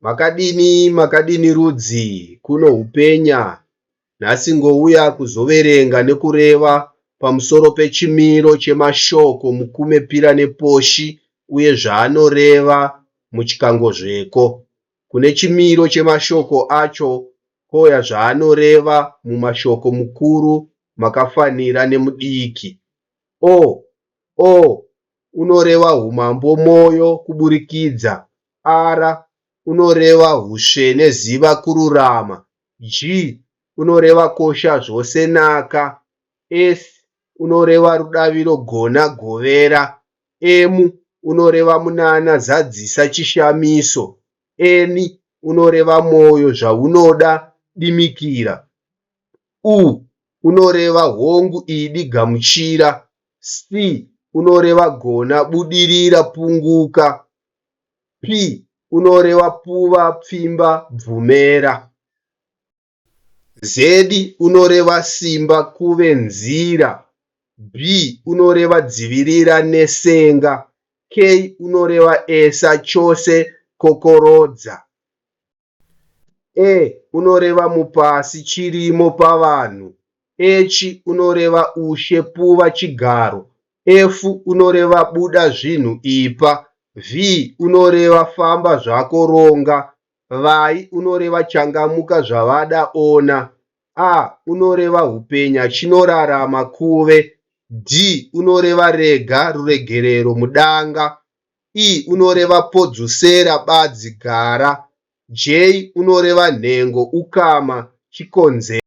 Makadini makadini rudzi kuno hupenya nhasi ngouya kuzoverenga nekureva pamusoro pechimiro chemashoko mukume pira neposhi uye zvaanoreva muchikangozveko. Kune chimiro chemashoko acho koya zvaanoreva mumashoko mukuru makafanira nemudiki. O, o, unoreva humambo moyo kuburikidza R unoreva husvene ziva kururama G unoreva kosha zvose naka S unoreva rudaviro gona govera M unoreva munana zadzisa chishamiso N unoreva moyo zvaunoda dimikira U unoreva hongu idi gamuchira Sti, unoreva gona, budirira, punguka. Pi, unoreva puva, pfimba, bvumera. Zedi, unoreva simba, kuve, nzira. Bhi, unoreva dzivirira, nesenga. Kei, unoreva esa, chose, kokorodza. E unoreva mupasi, chirimo, pavanhu. Echi unoreva ushe, puva, chigaro. Efu unoreva buda zvinhu, ipa. Vhi unoreva famba zvako, ronga. Vai unoreva changamuka, zvavada, ona. A unoreva hupenya, chinorarama, kuve. Dhi unoreva rega, ruregerero, mudanga. P unoreva podzosera, badzi, gara. J unoreva nhengo, ukama, chikonzero.